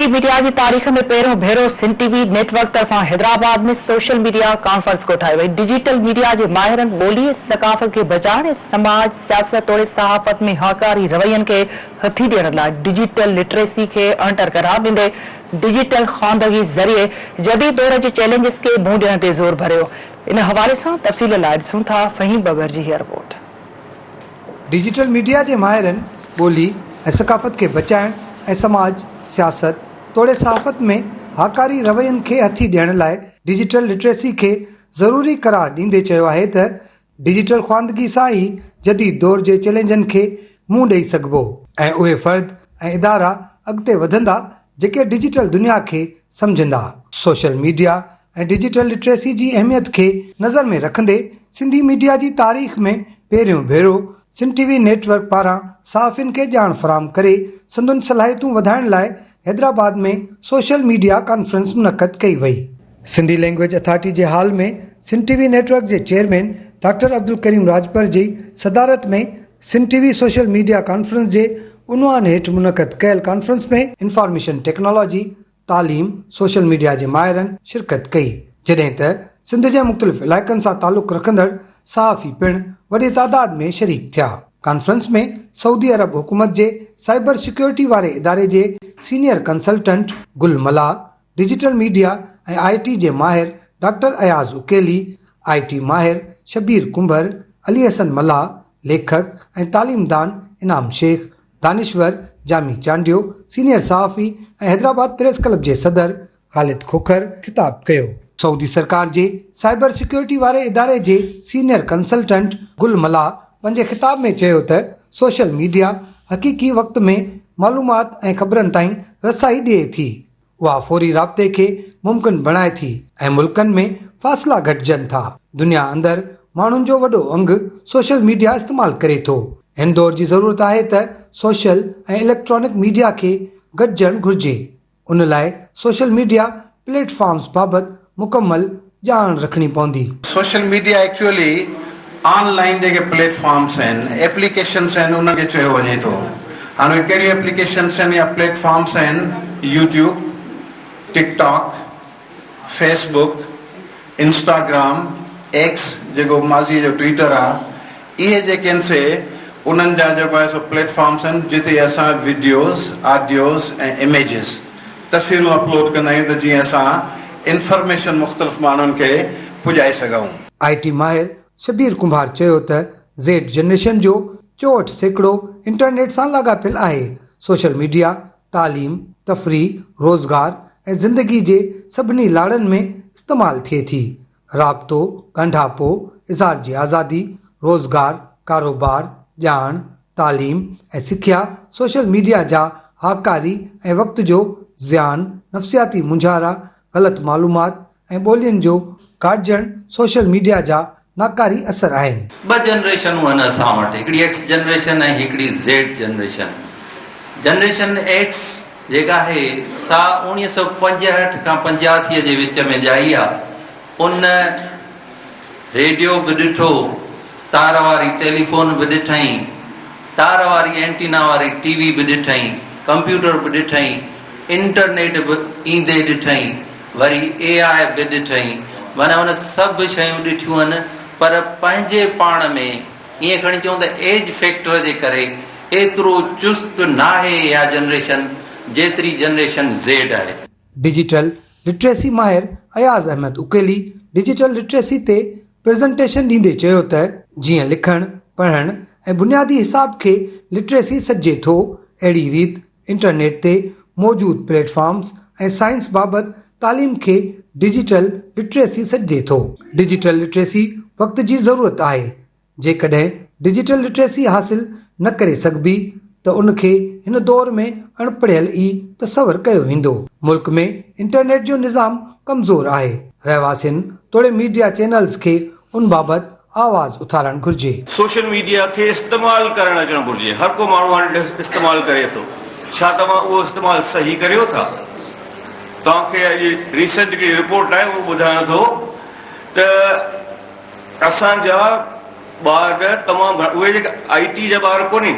Sindhi media جي تاريخ ۾ پهريون ڀيرو Sindh T V network طرفان حيدرآباد ۾ سوشل ميڊيا ڪانفرنس ڪوٺائي وئي، ڊجيٽل ميڊيا جي ماهرن ٻولي ۽ ثقافت کي بچائڻ ۽ سماج، سياست توڙي صحافت ۾ هاڪاري روين کي هٿي ڏيڻ لاء ڊجيٽل لٽريسي کي اڻٽر قرار ڏيندي ڊجيٽل خواندگي ذريعي جديد دور جي چئلينجز کي منهن ڏيڻ تي زور ڀريو، ان حوالي سان تفصيل لاء ڏسون ٿا فهيم ببر جي هيء رپورٽ. ڊجيٽل ميڊيا جي ماهرن ٻولي ۽ ثقافت کي بچائڻ ۽ سماج، سياست توڙي صحافت ۾ هاڪاري روين کي هٿي ڏيڻ لاء ڊجيٽل لٽريسي کي ضروري قرار ڏيندي چيو آهي ته ڊجيٽل خواندگي سان ئي جديد دور جي چئلينجن کي منهن ڏئي سگهبو ۽ اهي فرد ۽ ادارا اڳتي وڌندا جيڪي ڊجيٽل دنيا کي سمجهندا، سوشل ميڊيا ۽ ڊجيٽل لٽريسي جي اهميت کي نظر ۾ رکندي سنڌي ميڊيا جي تاريخ ۾ پهريون ڀيرو Sindh T V network پاران صحافين کي ڄاڻ فراهم ڪري سندن صلاحيتون وڌائڻ لاء حيدرآباد ۾ سوشل ميڊيا ڪانفرنس منعقد ڪئي وئي. سنڌي لئنگويج اٿارٽي جي hall ۾ Sindh T V network جي چيئرمين ڊاڪٽر عبدالڪريم راڄپر جي صدارت ۾ Sindh T V social media conference جي عنوان هيٺ منعقد ڪيل ڪانفرنس ۾ انفارميشن ٽيڪنالاجي، تعليم سوشل ميڊيا جي ماهرن شرڪت ڪئي جڏهن ته سنڌ جي مختلف علائقن سان تعلق رکندڙ صحافي پڻ وڏي تعداد ۾ شريڪ ٿيا ڪانفرنس ۾ سعودي عرب حڪومت جي سائبر سيڪيورٽي واري اداري جي senior consultant Gul Mallah digital media ۽ I T جي ماهر doctor Ayaz Aqeeli I T ماهر شبير ڪنڀر علي حسن ملاح ليکڪ ۽ تعليم دان انعام شيخ دانشور جامي چانڊيو، سينيئر صحافي ۽ حيدرآباد پريس ڪلب جي صدر خالد کوکر خطاب ڪيو. سعودي سرڪار جي سائبر سيڪيورٽي واري اداري جي سينيئر ڪنسلٽنٽ گل ملاح پنهنجي خطاب ۾ چيو ته سوشل ميڊيا حقيقي وقت ۾ معلومات ۽ خبرن تائين رسائي ڏئي ٿي، اها فوري رابطي کي ممڪن بڻائي ٿي ۽ ملڪن ۾ فاصلا گهٽجن ٿا. دنيا اندر ماڻهن جو وڏو انگ سوشل ميڊيا استعمال ڪري ٿو. هن دور جي ضرورت آهي ته سوشل ۽ اليڪٽرانڪ ميڊيا کي گڏجڻ گهرجي. ان لاء سوشل ميڊيا پليٽ فارمز بابت مڪمل ڄاڻ رکڻي پوندي. Social media actually online جيڪي پليٽ فارمس آهن، ايپليڪيشنس آهن انهن کي چيو وڃي ٿو. هاڻ اهي ڪهڙيون ايپليڪيشنس آهن يا پليٽ فارمس آهن YouTube, TikTok, Facebook, Instagram, X جيڪو ماضيء جو ٽوئيٽر آهي، اهي جيڪي آهن سي انهن جا جيڪو آهي سو پليٽ فارمس آهن جتي اسان وڊيوز، آڊيوز ۽ اميجز، تصويرون، اپلوڊ ڪندا آهيون ته جيئن اسان انفارميشن مختلف ماڻهن کي پڄائي سگهون. آء ٽي ماهر شبير ڪنڀار چيو ته زيڊ جنريشن جو چوهٺ سيڪڙو انٽرنيٽ سان لاڳاپيل آهي، سوشل ميڊيا تعليم، تفريح، روزگار ۽ زندگي جي سڀني لاڙن ۾ استعمال ٿئي ٿي، رابطو، ڳنڍاپو، اظهار جي آزادي، روزگار، ڪاروبار، ڄاڻ، تعليم ۽ سکيا، سوشل ميڊيا جا هاڪاري ۽ وقت جو زيان، نفسياتي مونجهارا، غلط معلومات ۽ ٻولين جو ڪاٽجڻ سوشل ميڊيا جا ناڪاري اثر آهن. ٻه جنريشنون آهن اسان وٽ، هڪڙي ايڪس جنريشن ۽ هڪڙي زيڊ جنريشن. Generation X. جيڪا آهي سا اوڻيهه سؤ پنجهٺ کان پنجاسي جي وچ ۾ ڄائي آ، ان ريڊيو به ڏٺو، تار واري ٽيليفون به ڏٺائين، تار واري اينٽينا واري ٽي وي به ڏٺائين، ڪمپيوٽر به ڏٺائين، انٽرنيٽ به ايندي ڏٺائين، وري اي آء به ڏٺائين، معنيٰ هن سڀ شيون ڏٺيون هن پر پنهنجي پاڻ ۾. ائين کڻي چئون ته ايج فيڪٽر جي ڪري ايترو چست ناهي اها جنريشن جيتري جنريشن زيڊ آهي. ڊجيٽل لٽريسي ماهر اياز احمد اڪيلي ڊجيٽل لٽريسي تي پريزنٽيشن ڏيندي چيو ته، جيئن لکڻ، پڙهڻ ۽ بنيادي حساب کي لٽريسي سڏجي ٿو اهڙي ريت انٽرنيٽ تي موجود پليٽ فارمز ۽ سائنس بابت تعليم کي ڊجيٽل لٽريسي سڏجي ٿو. ڊجيٽل لٽريسي وقت جي ضرورت آهي، جيڪڏهن ڊجيٽل لٽريسي حاصل نه ڪري سگهبي ته ان کي هن دور ۾ اڻ پڙهيل ئي تصور ڪيو ويندو. ملڪ ۾ انٽرنيٽ جو نظام ڪمزور آهي، رهواسين توڙي ميڊيا چينلز کي ان بابت آواز اٿارڻ گهرجي. سوشل ميڊيا کي استعمال ڪرڻ اچڻ گهرجي هر ڪو ماڻهو هاڻي استعمال ڪري ٿو ڇا توهان اهو استعمال صحيح ڪريو ٿا توهان کي اڄ ريسنٽ هڪڙي رپورٽ آئي اهو ٻڌايان ٿو ته اسان جا ٻار تمام گهڻا اهي جيڪي آئي ٽي جا ٻار ڪونهين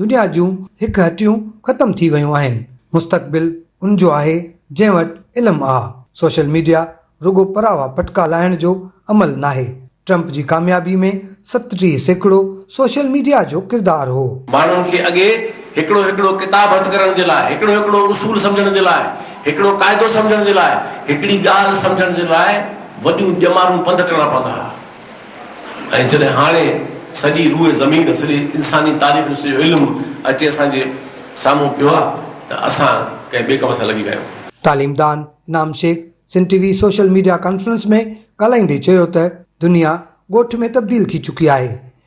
دنيا جون هڪ هٽيون ختم ٿي ويون آهن، مستقبل ان جو آهي جنهن وٽ علم آ، سوشل ميڊيا رڳو پراوا پٽڪا لاهڻ جو عمل ناهي، ٽرمپ جي ڪاميابي ۾ ستٽيهه سيڪڙو سوشل ميڊيا جو ڪردار هو. ماڻهن کي اڳي هڪڙو هڪڙو ڪتاب هٿ ڪرڻ جي لاء، هڪڙو هڪڙو اصول سمجهڻ جي لاء، هڪڙو قاعدو سمجهڻ جي لاء، هڪڙي ڳالهه سمجهڻ جي لاء وڏيون ڄمارون پنڌ ڪرڻا پوندا ها. ۽ جڏهن هاڻي سڄي روئي زمين، سڄي انساني تاريخ جو سڄو علم اچي اسان جي سامهون پيو آهي ته اسان ڪنهن ٻئي ڪم سان لڳي ويا آهيون. تعليمدان Inam Shaikh Sindh T V social media conference ۾ ڳالهائيندي چيو ته دنيا ڳوٺ ۾ تبديل ٿي چڪي آهي،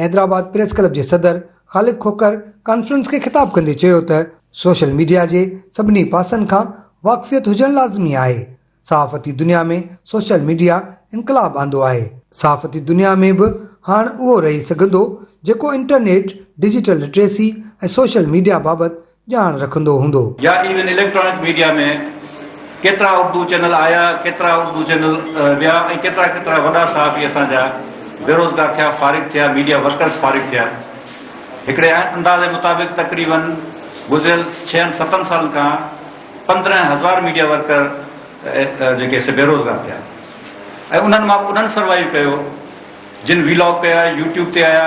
حيدرآباد پريس ڪلب جي صدر خالق کوکر ڪانفرنس کي خطاب ڪندي چيو ته سوشل ميڊيا جي سڀني پاسن کان واقفيت هجڻ لازمي آهي، صحافتي دنيا ۾ سوشل ميڊيا انقلاب آندو آهي، صحافتي دنيا ۾ به هاڻ اهو رهي سگهندو جيڪو internet, digital literacy ۽ social media بابت ڄاڻ رکندو هوندو. يا ايون اليڪٽرانڪ ميڊيا ۾ ڪيترا اردو چينل آيا ڪيترا اردو چينل ويا ۽ ڪيترا ڪيترا وڏا صحافي اسان جا بيروزگار ٿيا فارغ ٿيا ميڊيا ورڪرز فارغ ٿيا هڪڙي اندازي مطابق تقريباً گذريل ڇهن ستن سالن کان پندرهن هزار ميڊيا ورڪر جيڪي سي بيروزگار ٿيا ۽ انهن مان انهن سروائيو ڪيو جن ويلاگ ڪيا يوٽيوب تي آيا.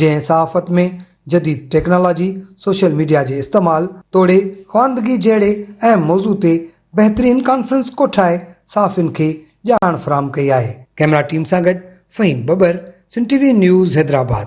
جنهن صحافت ۾ جديد ٽيڪنالاجي، سوشل ميڊيا جي استعمال توڙي خواندگي جهڙي اهم موضوع تي بهترين ڪانفرنس ڪوٺائي صحافين کي ڄاڻ فراهم ڪئي آهي. ڪئميرا ٽيم سان گڏ Fahim Babar, Sindh T V news Hyderabad.